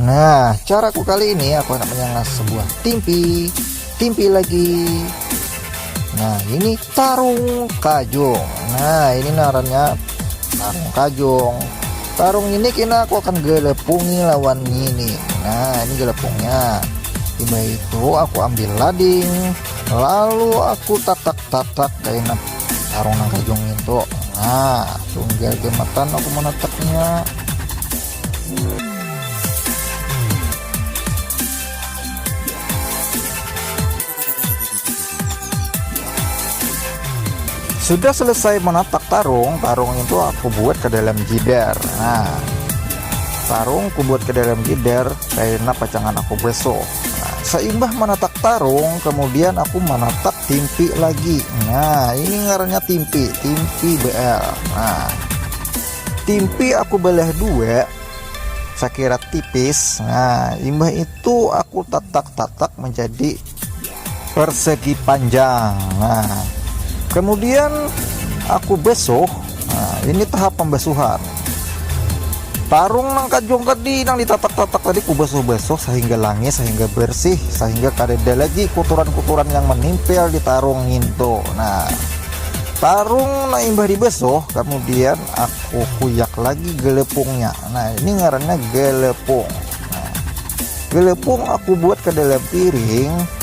Nah, caraku kali ini aku akan menyangas sebuah timpi, timpi lagi. Nah, ini tarung kajung. Nah, ini narannya tarung kajung. Tarung ini kena aku akan gelepungi lawan ini. Nah, ini gelepungnya. Tiba itu aku ambil lading, lalu aku tatak-tatak kayak tarung nang kajung itu nah sungguh gematan aku meneteknya sudah selesai menatak tarung tarung itu aku buat ke dalam jider nah tarung aku buat ke dalam jider karena pacangan aku besok nah, seimbah manatak tarung kemudian aku manatak timpi lagi nah ini ngarannya timpi timpi BL nah timpi aku belah dua sakira tipis nah imbah itu aku tatak-tatak menjadi persegi panjang nah kemudian aku besok nah ini tahap pembasuhan tarung nang kajong tadi nang ditatak-tatak tadi ku basuh-basuh sehingga langi sehingga bersih sehingga kada ada lagi kuturan-kuturan yang menimpel di tarung ngintu nah tarung nah imbah dibasuh kemudian aku kuyak lagi gelepungnya nah ini ngarannya gelepung nah, gelepung aku buat ke dalam piring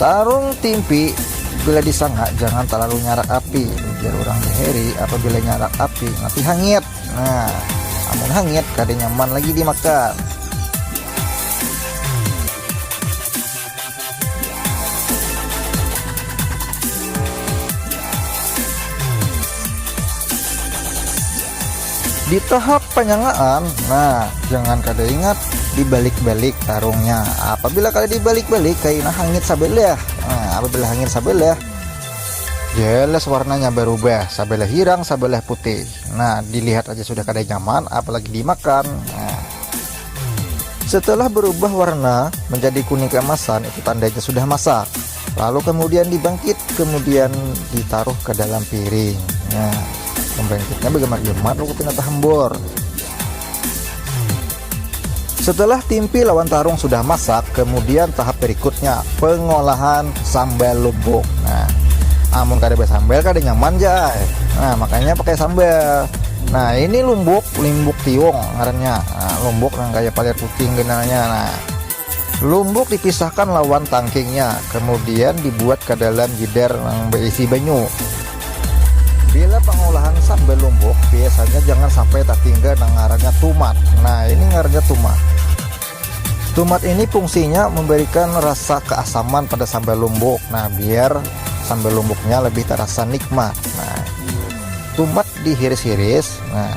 Tarung timpi bila disangha jangan talalu nyarak api, ujar urang di Heri, apabila nyarak api mati hangit, nah amun hangit kada nyaman lagi dimakan. Di tahap panyangaan, nah jangan kada ingat dibalik-balik tarungnya. Apabila kada dibalik-balik kaina hangit sabelah. Nah, apabila hangit sabelah, jelas warnanya barubah, sabelah hirang, sabelah putih. Nah, dilihat aja sudah kada nyaman, apalagi dimakan. Nah, setelah berubah warna menjadi kuning keemasan, itu tandanya sudah masak. lalu kemudian dibangkit kemudian ditaruh ke dalam piring ya pembangkitnya bagaimana gemar lu kepina tahembor setelah timpi lawan tarung sudah masak kemudian tahap berikutnya pengolahan sambal lubuk nah amun kada bersambal kada nyaman ja eh. nah makanya pakai sambal nah ini lumbuk limbuk tiung ngarannya nah, lumbuk yang kayak palir kucing genalnya nah Lumbuk dipisahkan lawan tangkingnya, kemudian dibuat ke dalam jider nang beisi banyu. Bila pengolahan sambal lumbuk, biasanya jangan sampai tatinggal nang ngarannya tumat. Nah, ini ngarannya tumat. Tumat ini fungsinya memberikan rasa keasaman pada sambal lumbuk. Nah, biar sambal lumbuknya lebih terasa nikmat. Nah, tumat dihiris-hiris. Nah,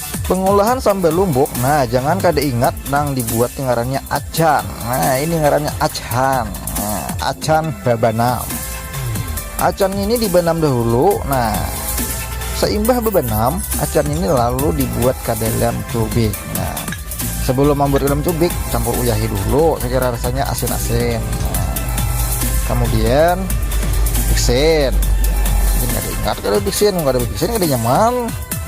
Pengolahan sambal lumbuk nah jangan kada ingat nang dibuat ni ngarannya acan nah ini ngarannya acan nah, acan babanam acan ini dibanam dahulu nah seimbah bebanam acan ini lalu dibuat ke dalam cubik nah sebelum membuat dalam cubik campur uyahi dulu sekira rasanya asin-asin nah, kemudian biksin ingat kada biksin kada biksin kada nyaman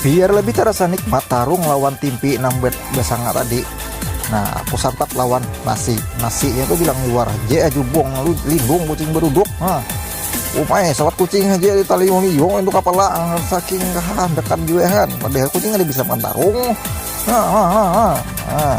Biar lebih terasa nikmat tarung lawan timpi nang bersanga tadi. Nah, aku santap lawan nasi. nasi Nasinya tuh bilang luar je ajubong lu lindung kucing beruduk. Nah, umai sawat kucing aja di tali miyong itu kepala ah, saking kahan dekat juehan. Padahal kucing ada bisa makan tarung. Nah, nah, nah, nah. nah.